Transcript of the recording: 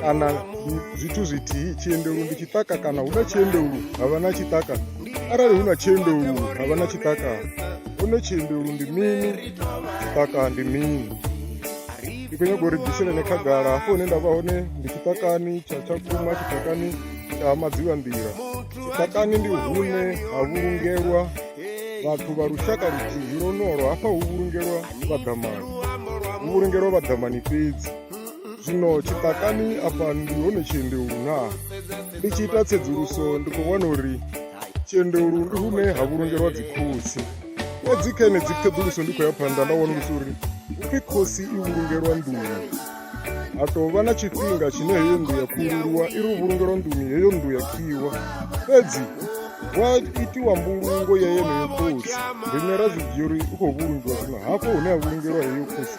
kana zwithu zwithihi tshiendelu ndi tshiṱaka kana hu na tshiendelu ha vha na tshiṱaka arali hu na tshiendelu ha vha na tshiṱaka hone tshiendelu ndi mini tshiṱaka ndi mini ndi khou nyaga uri bviselene khagala hafho hune nda vha hone ndi tshiṱakani tsha tshakhuma tshiṱakani tsha madziwa nḓila tshiṱakani ndi hune ha vhulungelwa vhathu vha lushaka luthihi lonolo hafha hu vhulungelwa vhaḓamani hu vhulungelwa vhaḓamani fhedzi zwino tshiṱakani afha ndi hone tshiendeu na ndi tshi ita tsedzuluso ndi khou wana uri tshiendeu ndi hune ha vhulungelwa dzikhotsi fhedzi kha enedzi ṱhoḓuluso ndi khou ya phanḓa nda wanulusa uri upfhi khosi i vhulungelwa nḓuni ha tou vha na tshifhinga tshine heyo nnḓu ya khululiwa i ri u vhulungelwa nḓuni heyo nnḓu ya khiwa fhedzi wa itiwa mbulungo ya yeneyo khosi rine ra zwi dzhia uri u khou vhulungiwa zwino hafho hune ha vhulungelwa heyo khosi